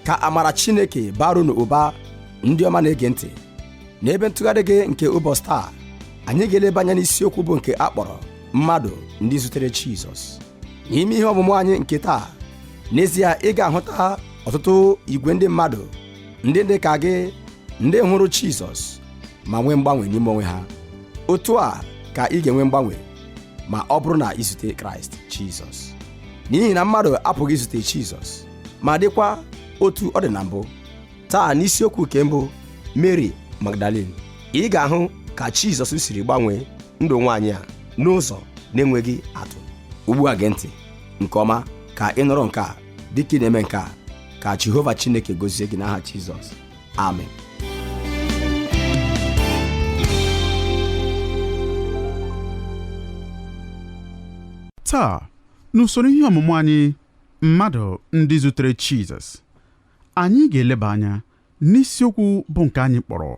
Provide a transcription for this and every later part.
ka amara chineke baara unu ụba ndị ọma na-ege ntị n'ebe ntụgharị gị nke ụbọchị taa anyị ga-eleba anya n'isiokwu bụ nke a kpọrọ mmadụ ndị zutere jizọs n'ime ihe ọmụmụ anyị nke taa n'ezie ị ga-ahụta ọtụtụ igwe ndị mmadụ ndị dị ka gị ndị hụrụ jizọs ma nwee mgbanwe n'ime onwe ha otu a ka ị ga-enwe mgbanwe ma ọ bụrụ na i zute kraịst jizọs n'ihi na mmadụ apụghị izute jizọs ma dịkwa otu ọ dị na mbụ taa n'isiokwu nke mbụ mary magdalene ị ga-ahụ ka jizọs siri gbanwee ndụ nwaanyị a n'ụzọ na-enweghị atụ ugbu a gee ntị nke ọma ka ị nụrụ nke a dịka ị na-eme nke a ka jehova chineke gozie gị n'aha jizọs amen taa n'usoro ihe ọmụmụ anyị mmadụ ndị zutere Jizọs anyị ga-eleba anya n'isiokwu bụ nke anyị kpọrọ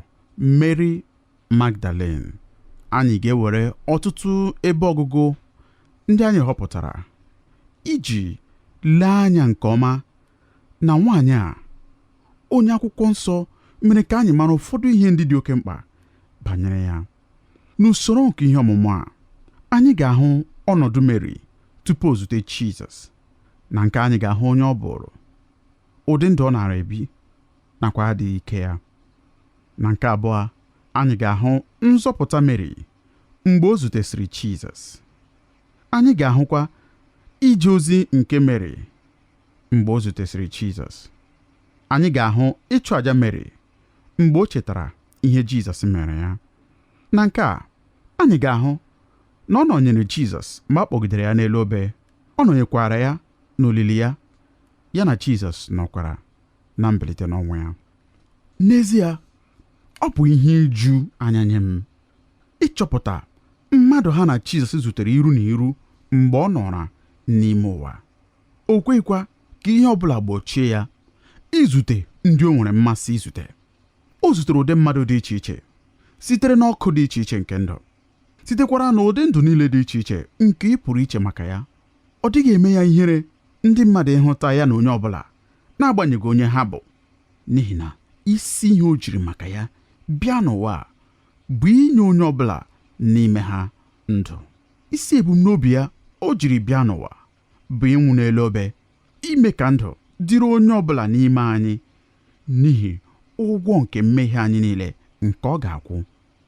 Mary Magdalene anyị ga-ewere ọtụtụ ebe ọgụgụ ndị anyị họpụtara iji lee anya nke ọma na nwaanyị a onye akwụkwọ nsọ mere ka anyị mara ụfọdụ ihe ndị dị oke mkpa banyere ya n'usoro nke ihe ọmụmụ a anyị ga-ahụ ọnọdụ Meri tupu o zute Jizọs na nke a anyị ga-ahụ onye ọ bụụrụ ụdị ndụ ọ naara ebi nakwa adịghị ike ya na nke abụọ anyị ga-ahụ nzọpụta Meri mgbe o zutesịrị Jizọs anyị ga-ahụkwa ije ozi nke Meri mgbe o zutesịrị Jizọs. Anyị ga-ahụ ịchụ aja Meri mgbe o chetara ihe Jizọs meere ya. Na nke a, anyị ga-ahụ na ọ nọnyere Jizọs mgbe a kpọgidere ya n'elu obe, ọ nọnyekwara ya n'olili ya, ya na Jizọs nọkwara na mbilite n'ọnwụ ya. N'ezie, ọ bụ ihe iju anya nye m ịchọpụta mmadụ ha na Jizọs zutere iru na iru mgbe ọ nọra n'ime ụwa. o kweghịkwa ka ihe ọ bụla gbochie ya izute ndị o nwere mmasị izute o zutere ụdị mmadụ dị iche iche sitere n'ọkwa dị iche iche nke ndụ sitekwara n'ụdị ndụ niile dị iche iche nke ị pụrụ iche maka ya ọ dịghị eme ya ihere ndị mmadụ ịhụta ya na onye ọ bụla n'agbanyeghị onye ha bụ n'ihi na isi ihe o jiri maka ya bịa n'ụwa bụ inye onye ọbụla n'ime ha ndụ isi ebumnobi ya o jiri bịa n'ụwa bụ ịnwụ n'elu obe ime ka ndụ dịrị onye ọ bụla n'ime anyị n'ihi ụgwọ nke mmehie anyị niile nke ọ ga-akwụ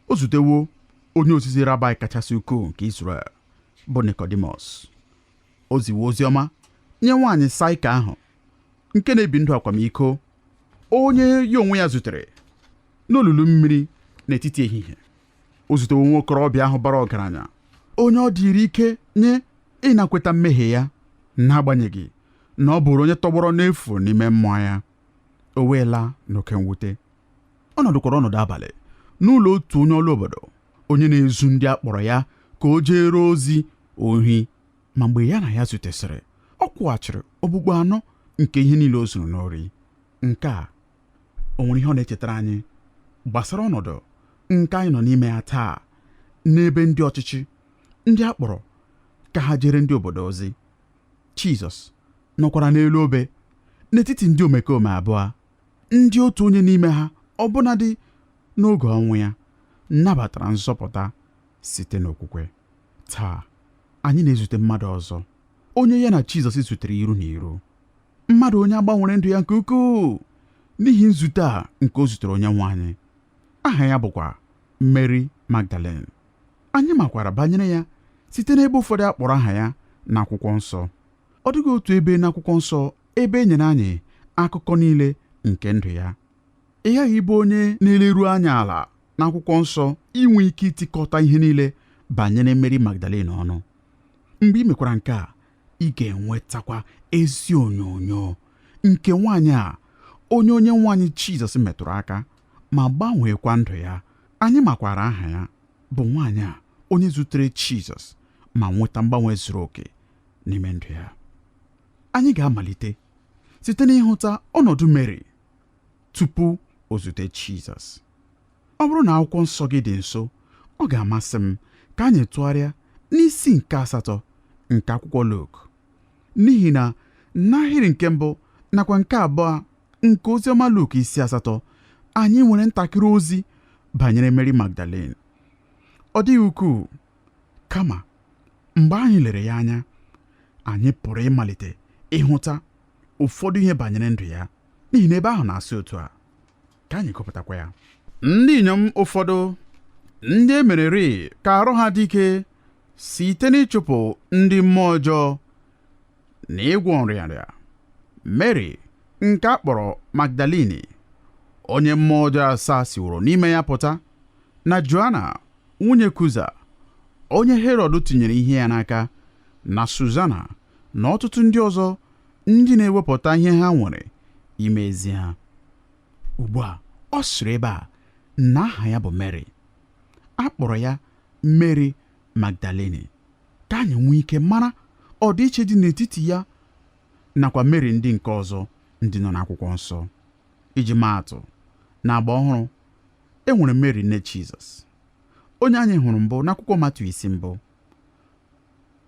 o zutewo onye ozizi rabai kachasị ukwuu nke Izrel bụ Nikọdimọs o ziwo ozi ọma nye nwaanyị saịka ahụ nke na-ebi ndụ akwamiko onye ya onwe ya zutere n'olulu mmiri n'etiti ehihie o zutewo nwa okorobịa ahụ bara ọgaranya onye ọ dịrị ike nye ịnakweta mmehie ya n'agbanyeghị na ọ bụụrụ onye tọgbọrọ n'efu n'ime mmụọ ya o wee laa n'oke mwute ọ nọdụkwara ọnọdụ abalị n'ụlọ otu onye ọrụ obodo onye na-ezu ndị a kpọrọ ya ka o jeere ozi ohi ma mgbe ya na ya zutesịrị ọ kwụghachiri okpukpu anọ nke ihe niile o zuru n'ori nke a o nwere ihe ọ na-echetara anyị gbasara ọnọdụ nke anyị nọ n'ime ya taa n'ebe ndị ọchịchị ndị a kpọrọ ka ha jeere ndị obodo ozi Jizọs nọkwara n'elu obe n'etiti ndị omekome abụọ ndị otu onye n'ime ha ọbụnadị n'oge ọnwụ ya nabatara nzọpụta site n'okwukwe taa anyị na-ezute mmadụ ọzọ onye ya na Jizọs zutere iru na iru mmadụ onye a gbanwere ndụ ya nke ukwuu n'ihi nzute a nke o zutere onye nwe anyị aha ya bụkwa Mary Magdalene anyị makwara banyere ya site n'ebe ụfọdụ a kpọrọ aha ya n'akwụkwọ nsọ ọ dịghị otu ebe n'akwụkwọ nsọ ebe e nyere anyị akụkọ niile nke ndụ ya ị ghaghị ịbụ onye na-eleru anya ala n'akwụkwọ nsọ inwe ike itikọta ihe niile banyere Mary Magdalene ọnụ mgbe ị mekwara nke a ị ga-enwetakwa ezi onyonyo nke nwaanyị a onye onye nwe anyị Jizọs metụrụ aka ma gbanweekwa ndụ ya anyị makwara aha ya bụ nwaanyị a onye zutere Jizọs ma nweta mgbanwe zuru oke n'ime ndụ ya anyị ga-amalite site n'ịhụta ọnọdụ Meri tupu o zute Jizọs Ọ bụrụ na akwụkwọ nsọ gị dị nso, ọ ga-amasị m ka anyị tụgharịa n'isi nke asatọ nke akwụkwọ Luk. N'ihi na n'ahịrị nke mbụ nakwa nke abụọ nke Oziọma Luk isi asatọ, anyị nwere ntakịrị ozi banyere Meri Magdalin. Ọ dịghị ukwuu, kama mgbe anyị lere ya anya, anyị pụrụ ịmalite ịhụta ụfọdụ ihe banyere ndụ ya, n'ihi na ebe ahụ na-asị otu a. ka anyị gụpụtakwa ya ndị inyom ụfọdụ ndị e mereri ka arụ ha dị ike site n'ịchụpụ ndị mmụọ ọjọọ na ịgwọ nrịanrịa Mary nke a kpọrọ Magdalini onye mmụọ ọjọọ asaa siworo n'ime ya pụta na Joana nwunye Kuza onye Herọd tinyere ihe ya n'aka na Suzana na ọtụtụ ndị ọzọ ndị na-ewepụta ihe ha nwere ime ezi ha ugbu a ọ sịrị ebe a na aha ya bụ mary a kpọrọ ya mary magdalene ka anyị nwee ike mara ọdịiche dị n'etiti ya nakwa mary ndị nke ọzọ ndị nọ n'akwụkwọ nsọ iji maa atụ na agba ọhụrụ e nwere mary nne jizọs onye anyị hụrụ mbụ n'akwụkwọ matiu isi mbụ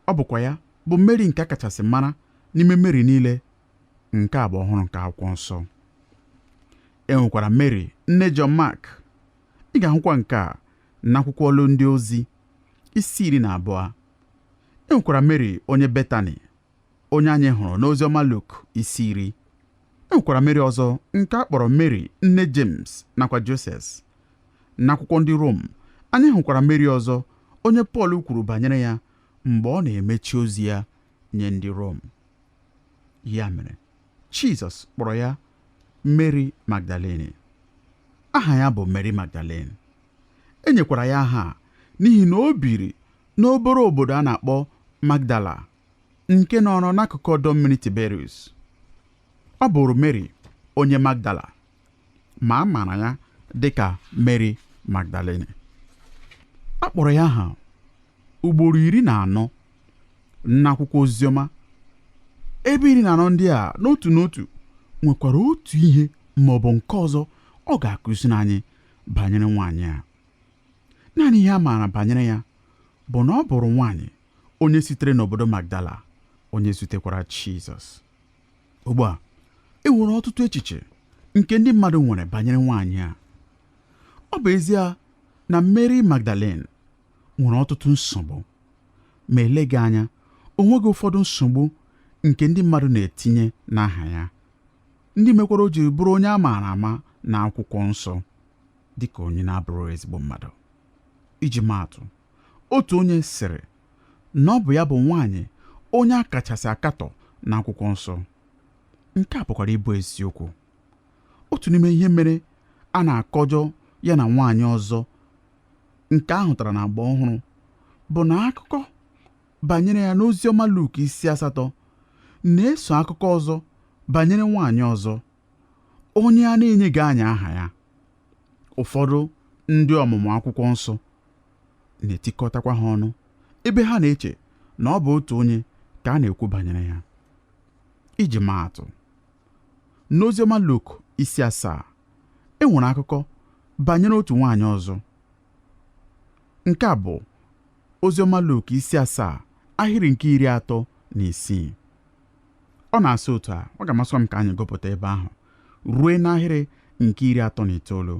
ọ bụkwa ya bụ mary nke a kachasị mara n'ime mary niile Nke agba ọhụrụ nke akwụkwọ nsọ. E nwekwara Mary, nne John Mark. Ị ga-ahụkwa nke a n'akwụkwọ ọlụ ndị ozi isi iri na abụọ. E nwekwara Mary onye Betani, onye anyị hụrụ n'oziọma Luk isi iri. E nwekwara Mary ọzọ nke a kpọrọ Mary nne James nakwa Joses. N'akwụkwọ ndị Rom, anyị hụkwara Mary ọzọ onye Pọl kwuru banyere ya mgbe ọ na-emechi ozi ya nye ndị Rom. ya mere jizọs kpọrọ ya mary magdalene aha ya bụ mary magdalene e nyekwara ya aha a n'ihi na o biri n'obere obodo a na-akpọ magdala nke nọrọ n'akụkụ ọdọ mmiri tiberius ọ bụrụ mary onye magdala ma a maara ya dị ka Mary Magdalene a kpọrọ ya aha ugboro iri na anọ n'akwụkwọ oziọma ebe iri na anọ ndị a n'otu n'otu nwekwara otu ihe ma ọ bụ nke ọzọ ọ ga-akụziri anyị banyere nwaanyị a naanị ihe a maara banyere ya bụ na ọ bụrụ nwaanyị onye sitere n'obodo Magdala onye zutekwara Jizọs ugbu a e nwere ọtụtụ echiche nke ndị mmadụ nwere banyere nwaanyị a ọ bụ ezie na Mary Magdalene nwere ọtụtụ nsogbu ma eleghị anya o nweghị ụfọdụ nsogbu nke ndị mmadụ na-etinye n'aha ya ndị mekwara o jiri bụrụ onye a maara ama n'akwụkwọ nsọ dịka onye na-abụghị ezigbo mmadụ iji maa atụ otu onye sịrị na ọ bụ ya bụ nwaanyị onye a kachasị akatọ n'akwụkwọ nsọ. Nke a pụkwara ịbụ eziokwu. Otu n'ime ihe mere a na-akọjọ ya na nwaanyị ọzọ nke a hụtara n'Agba Ọhụrụ bụ na akụkọ banyere ya n'Oziọma Luk isi asatọ na-eso akụkọ ọzọ banyere nwaanyị ọzọ. onye a na-enyeghị anyị aha ya ụfọdụ ndị ọmụmụ akwụkwọ nsọ na-etikọtakwa ha ọnụ ebe ha na-eche na ọ bụ otu onye ka a na-ekwu banyere ya iji maa atụ n'oziọma Luk isi asaa e nwere akụkọ banyere otu nwaanyị ọzọ nke a bụ oziọma Luk isi asaa ahịrị nke iri atọ na isii ọ na-asị otu a ọ ga-amasị m ka anyị gụpụta ebe ahụ ruo n'ahịrị nke iri atọ na itoolu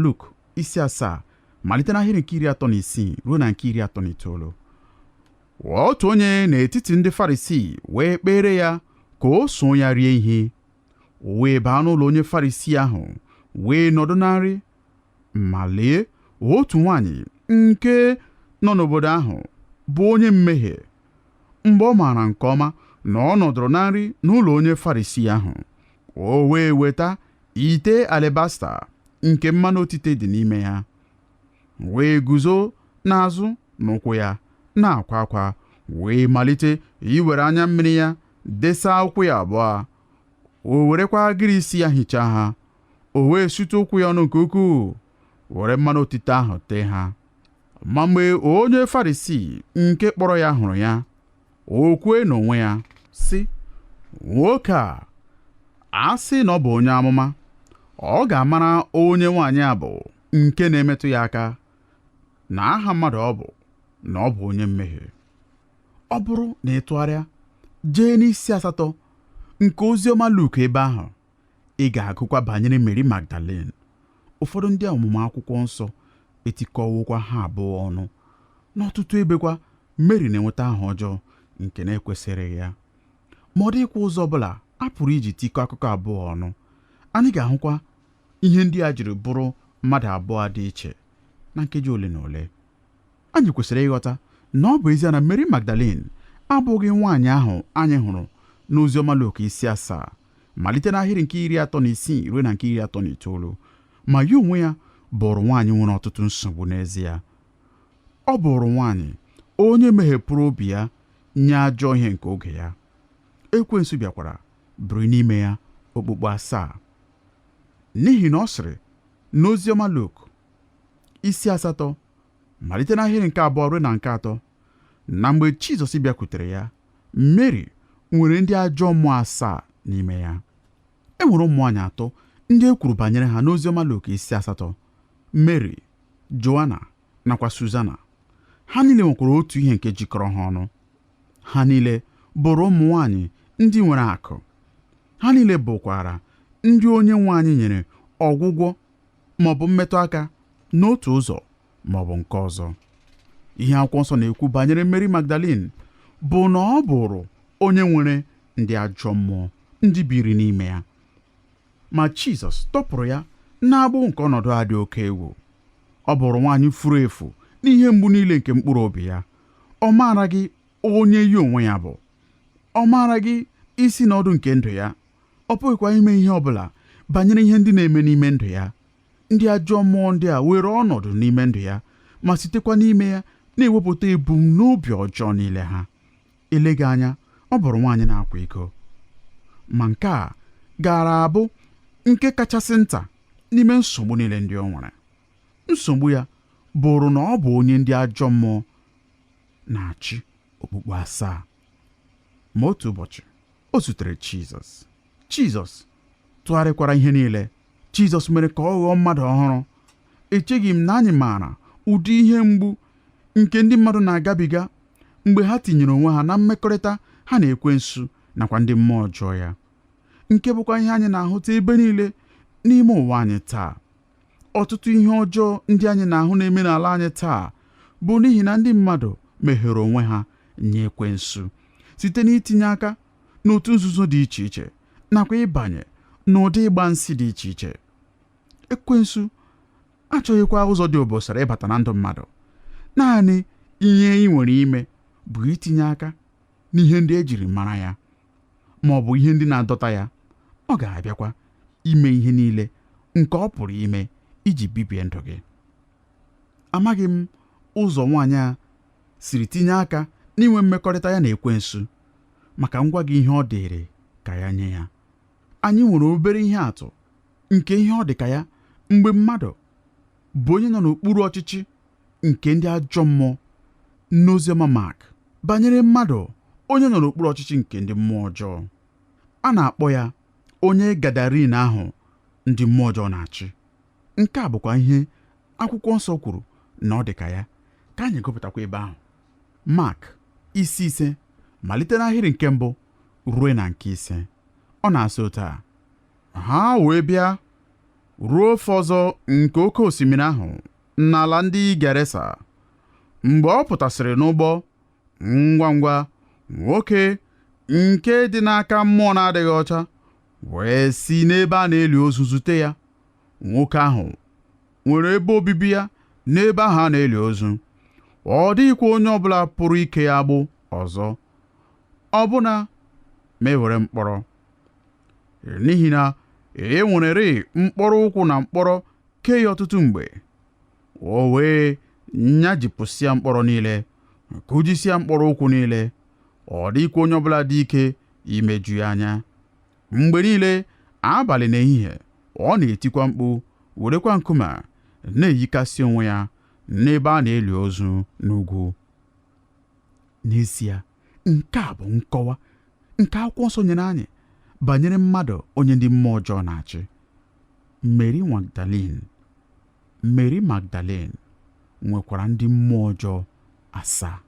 Luk isi asaa malite n'ahịrị nke iri atọ na isii ruo na nke iri atọ na itoolu otu onye n'etiti ndị Farisii wee kpere ya ka o so ya rie ihe o wee baa n'ụlọ onye Farisii ahụ wee nọdụ na nri ma lee otu nwaanyị nke nọ n'obodo ahụ bụ onye mmehie mgbe ọ maara nke ọma na ọ nọdụrụ na nri n'ụlọ onye Farisii ahụ, o wee weta ite alabasta nke mmanụ otite dị n'ime ya, wee guzo n'azụ n'ụkwụ ya na-akwa akwa, wee malite iwere anya mmiri ya desa ụkwụ ya abụọ, o werekwa agịrị isi ya hichaa ha, o wee sute ụkwụ ya ọnụ nke ukwuu, were mmanụ otite ahụ tee ha. ma mgbe onye Farisii nke kpọrọ ya hụrụ ya o kwue n'onwe ya sị nwoke a a sị na ọ bụ onye amụma ọ ga-amara onye nwaanyị a bụ nke na-emetụ ya aka na aha mmadụ ọ bụ na ọ bụ onye mmehie ọ bụrụ na ị tụgharịa jee n'isi asatọ nke oziọma Luk ebe ahụ Ị ga-agụkwa banyere Meri Magdalin. Ụfọdụ ndị ọmụmụ akwụkwọ nsọ etikọwokwa ha abụọ ọnụ. N'ọtụtụ ebekwa, Meri na-enweta aha ọjọọ nke na-ekwesịghị ya. Ma ọ dịghịkwa ụzọ ọ bụla a pụrụ iji tikọọ akụkọ abụọ ọnụ. Anyị ga-ahụkwa ihe ndị a jiri bụrụ mmadụ abụọ dị iche na nkeji ole na ole. Anyị kwesịrị ịghọta na ọ bụ ezie na Meri Magdalin abụghị nwaanyị ahụ anyị hụrụ n'Oziọma Luk isi asaa malite n'ahịrị nke iri atọ na isii ruo na nke iri atọ na itoolu ma ya onwe ya bụrụ nwaanyị nwere ọtụtụ nsogbu n'ezie ọ bụrụ nwaanyị onye meghepụrụ obi ya nye ajọ ihe nke oge ya ekwensu bịakwara biri n'ime ya okpukpu asaa n'ihi na ọ sịrị n'oziọma Luk isi asatọ malite n'ahịrị nke abụọ ruo na nke atọ na mgbe Jizọs bịakwutere ya Meri nwere ndị ajọ mmụọ asaa n'ime ya e nwere ụmụ nwaanyị atọ ndị e kwuru banyere ha n'oziọma Luk isi asatọ Meri Joana nakwa Suzana ha niile nwekwara otu ihe nke jikọrọ ha ọnụ ha niile bụrụ ụmụ nwaanyị ndị nwere akụ ha niile bụkwara ndị onye nwe anyị nyere ọgwụgwọ ma ọ bụ mmetụ aka n'otu ụzọ ma ọ bụ nke ọzọ ihe akwụkwọ nsọ na-ekwu banyere Mary Magdalene bụ na ọ bụrụ onye nwere ndị ajọ mmụọ ndị biri n'ime ya ma Jizọs tọpụrụ ya n'agbụ nke ọnọdụ a dị oke egwu ọ bụrụ nwaanyị furu efu n'ihe mgbu niile nke mkpụrụ obi ya ọ maaraghị onye ya onwe ya bụ ọ maaraghị isi na ọdụ nke ndụ ya ọ pụghịkwa ime ihe ọ bụla banyere ihe ndị na-eme n'ime ndụ ya ndị ajọ mmụọ ndị a were ọnọdụ n'ime ndụ ya ma sitekwa n'ime ya na-ewepụta ebumnobi ọjọọ niile ha eleghị anya ọ bụrụ nwaanyị na-akwa iko ma nke a gaara abụ nke kachasị nta n'ime nsogbu niile ndị o nwere nsogbu ya bụrụ na ọ bụ onye ndị ajọ mmụọ na-achị okpukpu asaa Ma otu ụbọchị, o zutere Jizọs. Jizọs tụgharịkwara ihe niile. Jizọs mere ka ọ ghọọ mmadụ ọhụrụ. Echeghị m na anyị maara ụdị ihe mgbu nke ndị mmadụ na-agabiga mgbe ha tinyere onwe ha na mmekọrịta ha na ekwensu nakwa ndị mmụọ ọjọọ ya nke bụkwa ihe anyị na-ahụta ebe niile n'ime ụwa anyị taa ọtụtụ ihe ọjọọ ndị anyị na-ahụ na-eme n'ala anyị taa bụ n'ihi na ndị mmadụ meghere onwe ha nye ekwensu site n'itinye aka n'otu nzuzo dị iche iche nakwa ịbanye n'ụdị ịgba nsi dị iche iche ekwensu achọghịkwa ụzọ dị obosara ịbata na ndụ mmadụ naanị ihe i nwere ime bụ itinye aka n'ihe ndị e jiri mara ya ma ọ bụ ihe ndị na-adọta ya ọ ga-abịakwa ime ihe niile nke ọ pụrụ ime iji bibie ndụ gị amaghị m ụzọ nwaanyị a siri tinye aka n'inwe mmekọrịta ya na ekwensu ma ka m gwa gị ihe ọ dịrị ka ya nye ya anyị nwere obere ihe atụ nke ihe ọ dị ka ya mgbe mmadụ bụ onye nọ n'okpuru ọchịchị nke ndị ajọ mmụọ n'oziọma Mak banyere mmadụ onye nọ n'okpuru ọchịchị nke ndị mmụọ ọjọọ a na-akpọ ya onye Gadarin ahụ ndị mmụọ ọjọọ na-achị nke a bụkwa ihe akwụkwọ nsọ kwuru na ọ dị ka ya ka anyị gụpụtakwa ebe ahụ Mak isi ise malite n'ahịrị nke mbụ ruo na nke ise ọ na-asị otu a ha wee bịa ruo ofe ọzọ nke oke osimiri ahụ n'ala ndị Gerasa mgbe ọ pụtasịrị n'ụgbọ ngwa ngwa nwoke nke dị n'aka mmụọ na-adịghị ọcha wee si n'ebe a na-eli ozu zute ya nwoke ahụ nwere ebe obibi ya n'ebe ahụ a na-eli ozu ọ dịghịkwa onye ọbụla pụrụ ike ya agbụ ọzọ ọbụna ma e were mkpọrọ n'ihi na e nwererị mkpọrọ ụkwụ na mkpọrọ kee ya ọtụtụ mgbe o wee nyajipụsịa mkpọrọ niile kụjisịa mkpọrọ ụkwụ niile ọ dịghịkwa onye ọbụla dị ike imeju ya anya mgbe niile abalị na ehihie ọ na-etikwa mkpu werekwa nkume na-eyikasị onwe ya n'ebe a na-eli ozu n'ugwu n'ezie nke a bụ nkọwa nke akwụkwọ nsọ nyere anyị banyere mmadụ onye ndị mmụọ ọjọọ na-achị Mary Magdalene Mary Magdalene nwekwara ndị mmụọ ọjọọ asaa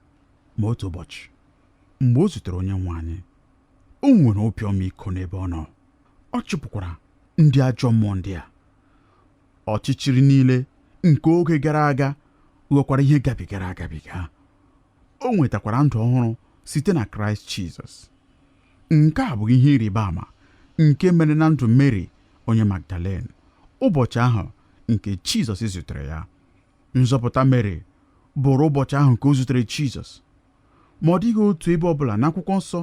ma otu ụbọchị mgbe o zutere onye nwe anyị o nwere obi ọmịiko n'ebe ọ nọ ọ chụpụkwara ndị ajọ mmụọ ndị a Ọchịchịrị niile nke oge gara aga ghọkwara ihe gabigara agabiga. O nwetakwara ndụ ọhụrụ site na Kraịst Jizọs. Nke a bụ ihe ịrịba ama nke mere na ndụ Meri onye Magdalen ụbọchị ahụ nke Jizọs zutere ya. Nzọpụta Meri bụrụ ụbọchị ahụ nke o zutere Jizọs. ma ọ dịghị otu ebe ọ bụla n'akwụkwọ nsọ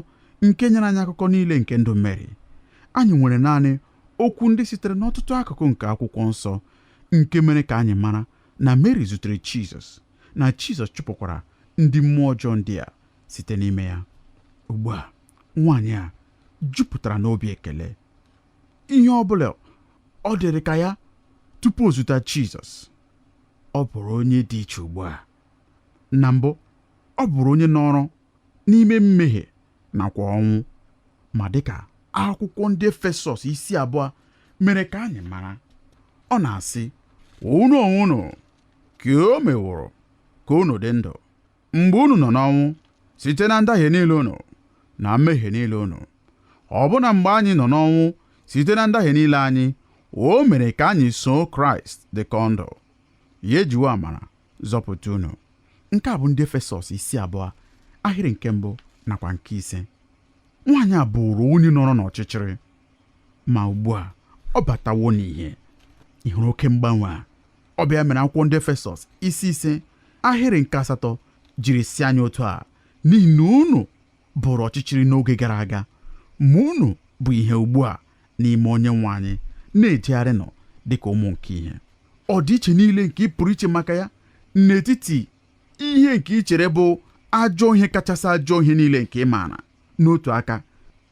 nke nyere anyị akụkọ niile nke ndụ Meri. Anyị nwere naanị okwu ndị sitere n'ọtụtụ akụkụ nke akwụkwọ nsọ nke mere ka anyị mara na Meri zutere Jizọs, na Jizọs chụpụkwara ndị mmụọ ọjọọ ndị a site n'ime ya. Ugbu a, nwaanyị a jupụtara n'obi ekele. Ihe ọ bụla ọ dịrị ka ya tupu o zute Jizọs, ọ bụrụ onye dị iche ugbu a. na mbụ ọ bụrụ onye nọrọ n'ime mmehie nakwa ọnwụ ma dịka akwụkwọ ndị Efesọs isi abụọ mere ka anyị mara ọ na-asị unu onwe unu ka o meworo ka unu dị ndụ mgbe unu nọ n'ọnwụ site na ndahie niile unu na mmehie niile unu ọbụna mgbe anyị nọ n'ọnwụ site na ndahie niile anyị o mere ka anyị soo Kraịst dịkọ ndụ ya e jiwo amara zọpụta unu nke a bụ ndị efesọs isi abụọ ahịrị nke mbụ nakwa nke ise nwaanyị a bụrụ onye nọrọ n'ọchịchịrị ma ugbu a ọ batawo n'ihe ị hụrụ oke mgbanwe a ọ bụ ya mere akwụkwọ ndị efesọs isi ise ahịrị nke asatọ jiri sị anyị otu a n'ihi na unu bụrụ ọchịchịrị n'oge gara aga ma unu bụ ihe ugbu a n'ime onye nwe anyị na-ejegharịnụ dị ka ụmụ nke ihe ọdịiche niile nke ị pụrụ iche maka ya n'etiti ihe nke ị chere bụ ajọ ihe kachasị ajọ ihe niile nke ị maara n'otu aka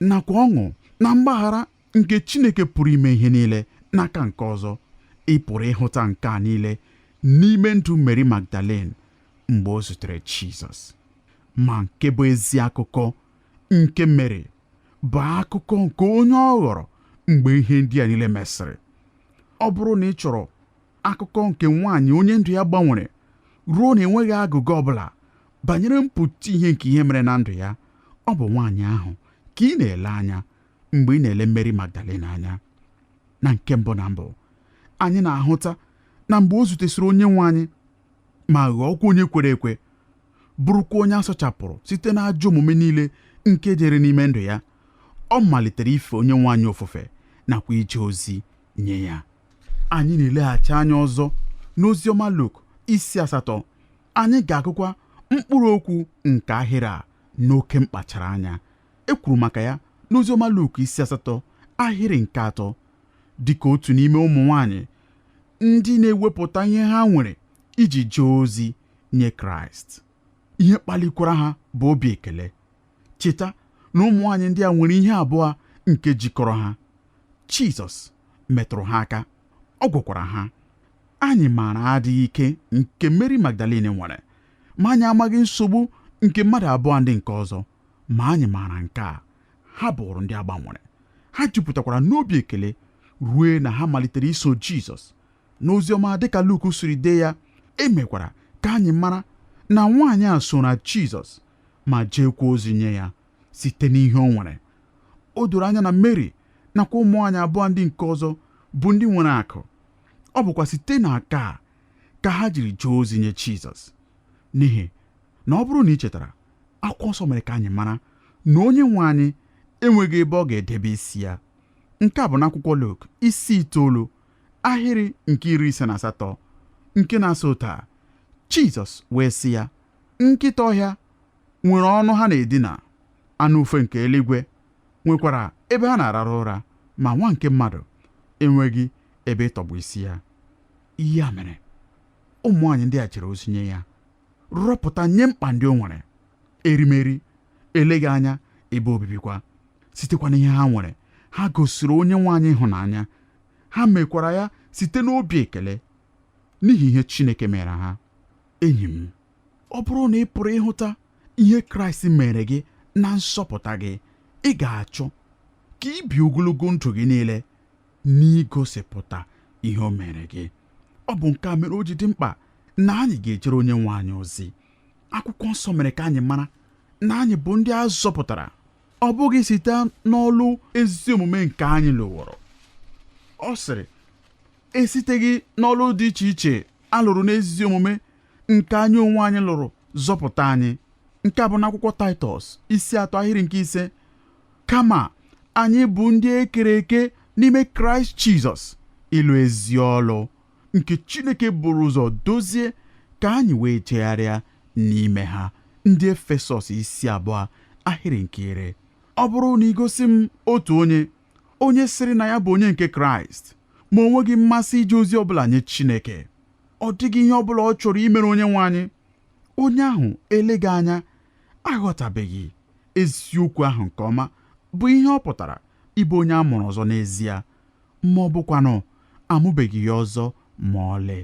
nakwa ọṅụ na mgbaghara nke Chineke pụrụ ime ihe niile n'aka nke ọzọ ị pụrụ ịhụta nke a niile n'ime ndụ Mary Magdalene mgbe o zutere Jizọs ma nke bụ ezi akụkọ nke Mary bụ akụkọ nke onye ọ ghọrọ mgbe ihe ndị a niile mesịrị ọ bụrụ na ị chọrọ akụkọ nke nwaanyị onye ndụ ya gbanwere ruo na enweghị agụgọ ọbụla banyere mpụta ihe nke ihe mere na ndụ ya ọ bụ nwaanyị ahụ ka ị na-ele anya mgbe ị na-ele Mary Magdalene anya na nke mbụ na mbụ anyị na-ahụta na mgbe o zutesịrị onye nwe anyị ma ghọọkwa onye kwere ekwe bụrụkwa onye a sachapụrụ site n'ajọ omume niile nke dịrị n'ime ndụ ya ọ malitere ife onye nwe anyị ofufe nakwa ije ozi nye ya anyị na-eleghachi anya ọzọ n'ozi ọma Luk isi asatọ anyị ga-agụkwa mkpụrụ okwu nke ahịrị a n'oke mkpachara anya E kwuru maka ya n'Oziọma Luk isi asatọ ahịrị nke atọ dịka otu n'ime ụmụ nwanyị ndị na-ewepụta ihe ha nwere iji jee ozi nye Kraịst. Ihe kpalikwara ha bụ obi ekele. Cheta na ụmụ nwanyị ndị a nwere ihe abụọ nke jikọrọ ha. Jizọs metụrụ ha aka, ọ gwọkwara ha. Anyị maara adịghị ike nke Meri Magdalin nwere, ma anyị amaghị nsogbu nke mmadụ abụọ ndị nke ọzọ. ma anyị maara nke a ha bụrụ ndị a gbanwere ha jupụtakwara n'obi ekele ruo na ha malitere iso Jizọs n'oziọma dịka Luk siri dee ya e mekwara ka anyị mara na nwaanyị a sooro Jizọs ma jeekwa ozi nye ya site n'ihe o nwere o doro anya na Mary nakwa ụmụ nwaanyị abụọ ndị nke ọzọ bụ ndị nwere akụ ọ bụkwa site na akụ a ka ha jiri jee ozi nye Jizọs n'ihi na ọ bụrụ na i chetara akwụkwọ nsọ mere ka anyị mara na onye nwe anyị enweghị ebe ọ ga-edebe isi ya nke a bụ n'akwụkwọ Luk isi itoolu ahịrị nke iri ise na asatọ nke na-asị otu a Jizọs wee sị ya nkịta ọhịa nwere ọnụ ha na-edina anụ ufe nke eluigwe nwekwara ebe ha na-arara ụra ma nwa nke mmadụ enweghị ebe ịtọgbọ isi ya ya mere ụmụ nwaanyị ndị a jere ozi nye ya rọpụta nye mkpa ndị o nwere erimeri eleghị anya ebe obibikwa sitekwa n'ihe ha nwere ha gosiri onye nwe anyị ịhụnanya ha mekwara ya site n'obi ekele n'ihi ihe Chineke meere ha enyi m ọ bụrụ na ị pụrụ ịhụta ihe Kraịst meere gị na nzọpụta gị ị ga-achọ ka i bie ogologo ndụ gị niile n'igosipụta ihe o mere gị ọ bụ nke a mere o ji dị mkpa na anyị ga-ejere onye nwe anyị ozi akwụkwọ nsọ mere ka anyị mara na anyị bụ ndị a zọpụtara ọ bụghị site n'ọlụ ezi omume nke anyị lụworo ọ sịrị esiteghị n'ọlụ dị iche iche a lụrụ n'ezi omume nke anyị onwe anyị lụrụ zọpụta anyị nke a bụ n'akwụkwọ taịtọs isi atọ ahịrị nke ise kama anyị bụ ndị e kere eke n'ime kraịst jizọs ịlụ ezi ọlụ nke chineke buru ụzọ dozie ka anyị wee jegharịa n'ime ha ndị efesọs isi abụọ ahịrị nke iri ọ bụrụ na i gosi m otu onye onye sịrị na ya bụ onye nke kraịst ma o nweghị mmasị ije ozi ọbụla nye chineke ọ dịghị ihe ọbụla ọ chọrọ imere onye nwe anyị onye ahụ eleghị anya aghọtabeghị eziokwu ahụ nke ọma bụ ihe ọ pụtara ịbụ onye a mụrụ ọzọ n'ezie ma ọ bụkwanụ amụbeghị ya ọzọ ma ọlị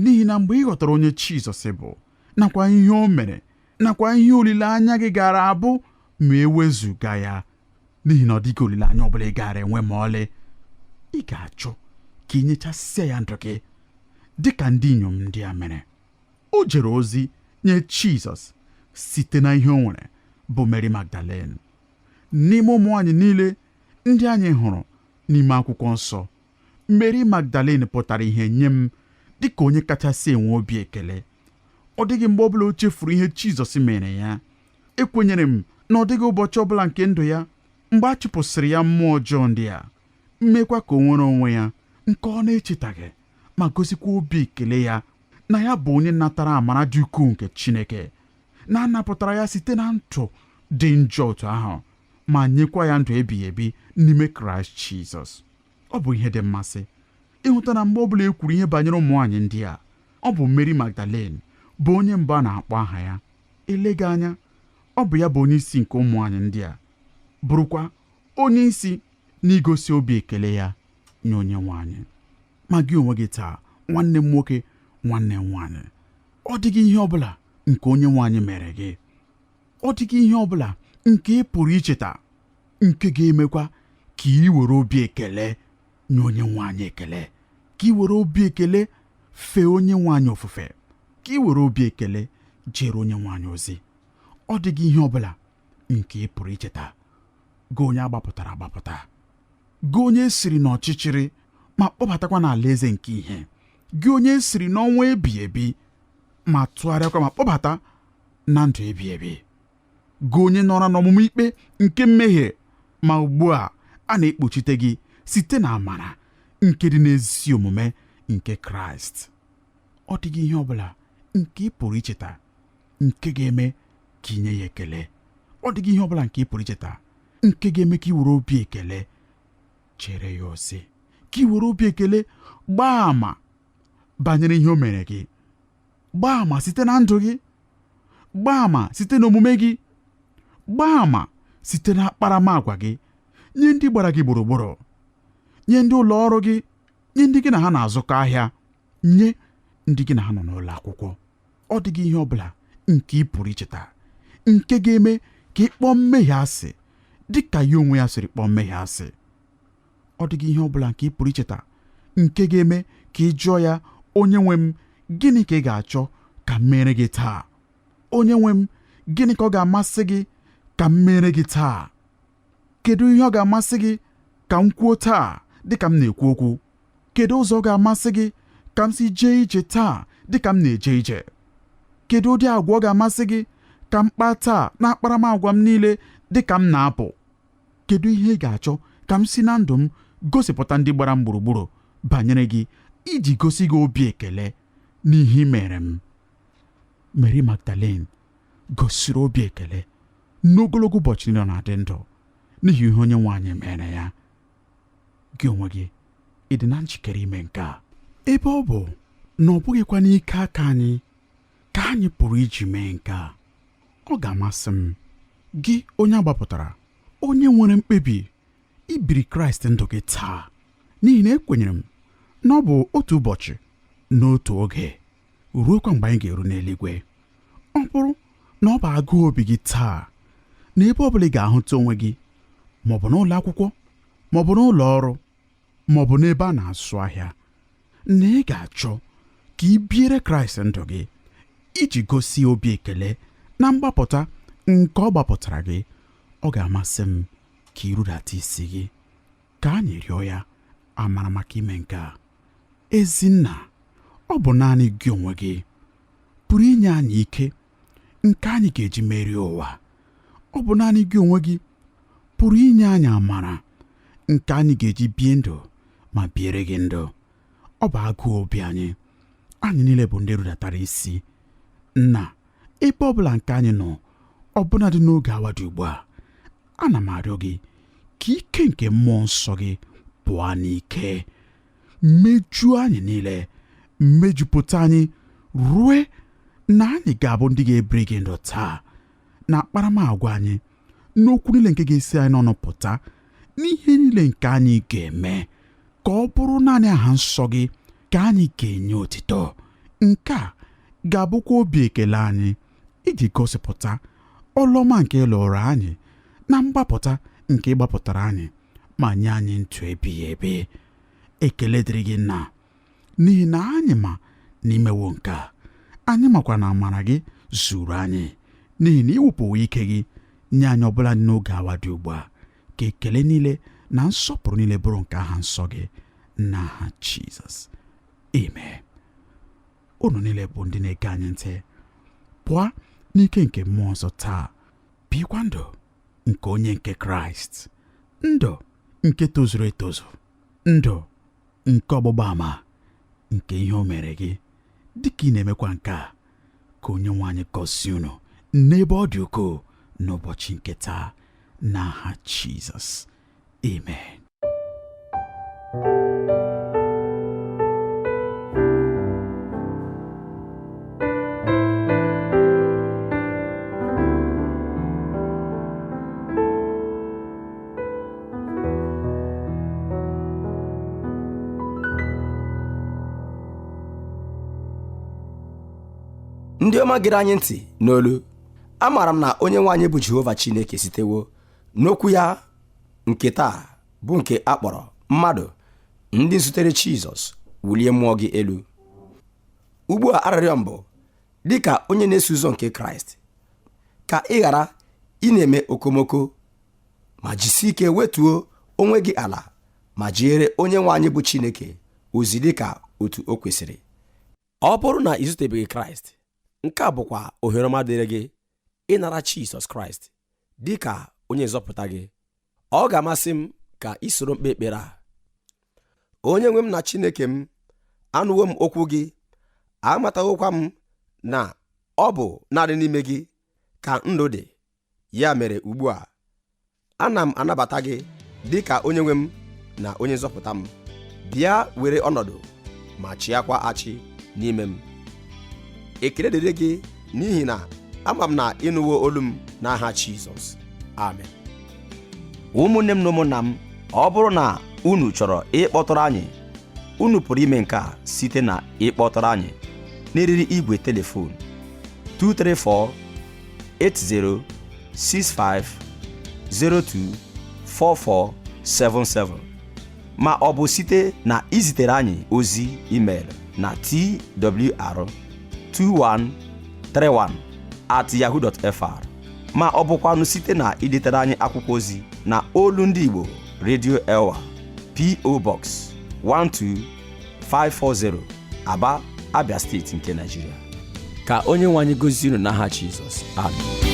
n'ihi na mgbe ị ghọtara onye Jizọs bụ nakwa ihe o mere nakwa ihe olileanya gị gaara abụ ma e wezuga ya n'ihi na ọ dịghị olileanya ọbụla ị gaara enwe ma ọlị ị ga-achọ ka i nyechasịa ya ndụ gị dị ka ndị inyom ndị a mere o jere ozi nye Jizọs site na ihe o nwere bụ Mary Magdalene n'ime ụmụ nwaanyị niile ndị anyị hụrụ n'ime akwụkwọ nsọ Mary Magdalene pụtara ihe nye m dịka onye kachasị enwe obi ekele ọ dịghị mgbe ọbụla o chefuru ihe Jizọs meere ya ekwenyere m na ọ dịghị ụbọchị ọbụla nke ndụ ya mgbe a chụpụsịrị ya mmụọ ọjọọ ndị a meekwa ka o nwere onwe ya nke ọ na-echetaghị ma gosikwa obi ekele ya na ya bụ onye natara amara dị ukwuu nke Chineke na a napụtara ya site na ndụ dị njọ otu ahụ ma nyekwa ya ndụ ebighị ebi n'ime Kraịst Jizọs ọ bụ ihe dị mmasị ịhụta na mgbe ọ bụla e kwuru ihe banyere ụmụ nwaanyị ndị a ọ bụ Mary Magdalene bụ onye mbụ a na-akpọ aha ya eleghị anya ọ bụ ya bụ onye isi nke ụmụ nwaanyị ndị a bụrụkwa onye isi n'igosi obi ekele ya nye onye nwe anyị ma gị onwe gị taa nwanne m nwoke nwanne m nwaanyị ọ dịghị ihe ọ bụla nke onye nwe anyị mere gị ọ dịghị ihe ọ bụla nke ị pụrụ icheta nke ga-emekwa ka ị were obi ekele nye onye nwe anyị ekele ka ị were obi ekele fee onye nwe anyị ofufe ka ị were obi ekele jere onye nwe anyị ozi ọ dịghị ihe ọ bụla nke ị pụrụ icheta gị onye a gbapụtara agbapụta gị onye e siri n'ọchịchịrị ma kpọbatakwa n'alaeze nke ihe gị onye e siri n'ọnwụ ebighị ebi ma tụgharịakwa ma kpọbata na ndụ ebighị ebi gị onye nọrọ n'ọmụma ikpe nke mmehie ma ugbu a a na-ekpuchite gị site na amara nke dị n'ezi omume nke kraịst ọ dịghị ihe ọ bụla nke ị pụrụ icheta nke ga-eme ka ị nye ya ekele ọ dịghị ihe ọ bụla nke ị pụrụ icheta nke ga-eme ka ị were obi ekele jere ya ozi ka ị were obi ekele gbaa àmà banyere ihe o mere gị gbaa àmà site na ndụ gị gbaa àmà site n'omume gị gbaa àmà site na akparamagwa gị nye ndị gbara gị gburugburu nye ndị ụlọ ọrụ gị nye ndị gị na ha na-azụkọ ahịa nye ndị gị na ha nọ n'ụlọ akwụkwọ ọ dịghị ihe ọ bụla nke ị pụrụ icheta nke ga-eme ka ị kpọọ mmehie asị dị ka ya onwe ya siri kpọọ mmehie asị ọ dịghị ihe ọ bụla nke ị pụrụ icheta nke ga-eme ka ị jụọ ya onye nwe m gịnị ka ị ga-achọ ka m meere gị taa onye nwe m gịnị ka ọ ga-amasị gị ka m meere gị taa kedu ihe ọ ga-amasị gị ka m kwuo taa dịka m na-ekwu okwu Kedu ụzọ ọ ga-amasị gị ka m si jee ije taa dị ka m na-eje ije? Kedu ụdị agwa ọ ga-amasị gị ka m kpaa taa n'akparamagwa m niile dị ka m na-apụ? Kedu ihe ị ga-achọ ka m si na ndụ m gosipụta ndị gbara m gburugburu banyere gị iji gosi gị obi ekele n'ihe i meere m? Meri Magdalin gosiri obi ekele n'ogologo ụbọchị niile ọ na-adị ndụ n'ihi ihe onye nwe anyị meere ya. gị onwe gị ị dị na njikere ime nke a ebe ọ bụ na ọ bụghịkwa n'ike aka anyị ka anyị pụrụ iji mee nke a ọ ga-amasị m gị onye a gbapụtara onye nwere mkpebi ibiri kraịst ndụ gị taa n'ihi na ekwenyere m na ọ bụ otu ụbọchị n'otu oge ruokwa mgbe anyị ga-eru n'eluigwe ọ bụrụ na ọ bụ agụụ obi gị taa na ebe ọ bụla ị ga-ahụta onwe gị ma ọ bụ n'ụlọ akwụkwọ ma ọ bụ n'ụlọ ọrụ ma ọ bụ n'ebe a na-azụ ahịa na ị ga-achọ ka ị biere kraịst ndụ gị iji gosi obi ekele na mgbapụta nke ọ gbapụtara gị ọ ga-amasị m ka ị rudata isi gị ka anyị rịọ ya amara maka ime nke a ezi nna ọ bụ naanị gị onwe gị pụrụ inye anyị ike nke anyị ga-eji merie ụwa ọ bụ naanị gị onwe gị pụrụ inye anyị amara nke anyị ga-eji bie ndụ ma biere gị ndụ ọ bụ agụụ obi anyị anyị niile bụ ndị rudatara isi nna ebe ọbụla nke anyị nọ ọbụnadị n'oge awa dị ugbu a ana m arịọ gị ka ike nke mmụọ nsọ gị pụọ n'ike mejuo anyị niile mejupụta anyị rue na anyị ga-abụ ndị ga-ebiri gị ndụ taa n'akparamagwa anyị n'okwu niile nke ga-esi anyị n'ọnụ pụta n'ihe niile nke anyị ga-eme ka ọ bụrụ naanị aha nsọ gị ka anyị ga-enye otito nke a ga-abụkwa obi ekele anyị iji gosipụta ọlụ ọma nke ị lụrụ anyị na mgbapụta nke ị gbapụtara anyị ma nye anyị ndụ ebighị ebi ekele dịrị gị nna n'ihi na anyị ma na i mewo nke a anyị makwa na amara gị zuuru anyị n'ihi na ị wụpụwo ike gị nye anyị ọbụladị n'oge awa dị ugbu a ka ekele niile na nsọpụrụ niile bụrụ nke aha nsọ gị n'aha Jizọs amen unu niile bụ ndị na-ege anyị ntị pụọ n'ike nke mmụọ nsọ taa bikwa ndụ nke onye nke Kraịst ndụ nke tozuru etozu ndụ nke ọgbụgba ama nke ihe o mere gị dịka ị na-emekwa nke a ka onye nwe anyị gọzie unu n'ebe ọ dị ukwuu n'ụbọchị nke taa n'aha Jizọs Amen. ndị ọma gere anyị ntị n'olu amaara m na onye nwe anyị bụ Jehova Chineke sitewo N'okwu ya nke taa bụ nke a kpọrọ mmadụ ndị zutere Jizọs wulie mmụọ gị elu ugbu a arịrịọ m bụ dị ka onye na-eso ụzọ nke Kraịst ka ị ghara ịna-eme okomoko ma jisie ike wetuo onwe gị ala ma jeere onye nwe anyị bụ Chineke ozi dị ka otu o kwesịrị ọ bụrụ na i zutebeghị Kraịst nke a bụkwa ohere ọma dịrị gị ịnara Jizọs Kraịst dị ka onye nzọpụta gị ọ ga-amasị m ka i soro m kpee ekpere a onye nwe m na Chineke m anụwo m okwu gị amatawokwa m na ọ bụ naanị n'ime gị ka ndụ dị ya mere ugbu a ana m anabata gị dị ka onye nwe m na onye nzọpụta m bịa were ọnọdụ ma chịakwa achị n'ime m ekele dịrị gị n'ihi na ama m na ị nụwo olu m n'aha Jizọs amen ụmụnne m na ụmụnna m ọ bụrụ na unu chọrọ ịkpọtụrụ anyị unu pụrụ ime nke a site na ịkpọtụrụ anyị n'eriri igwe telefon 234 8065024477 ma ọ bụ site na izitere anyị ozi email na twr2131 at yahoo.fr ma ọ bụkwanụ site na idetere anyị akwụkwọ ozi na olu ndị Igbo Radio Elwa PO Box 12540 Aba Abia steeti nke Naijiria ka onye nwe anyị gọzie unu n'aha Jizọs amen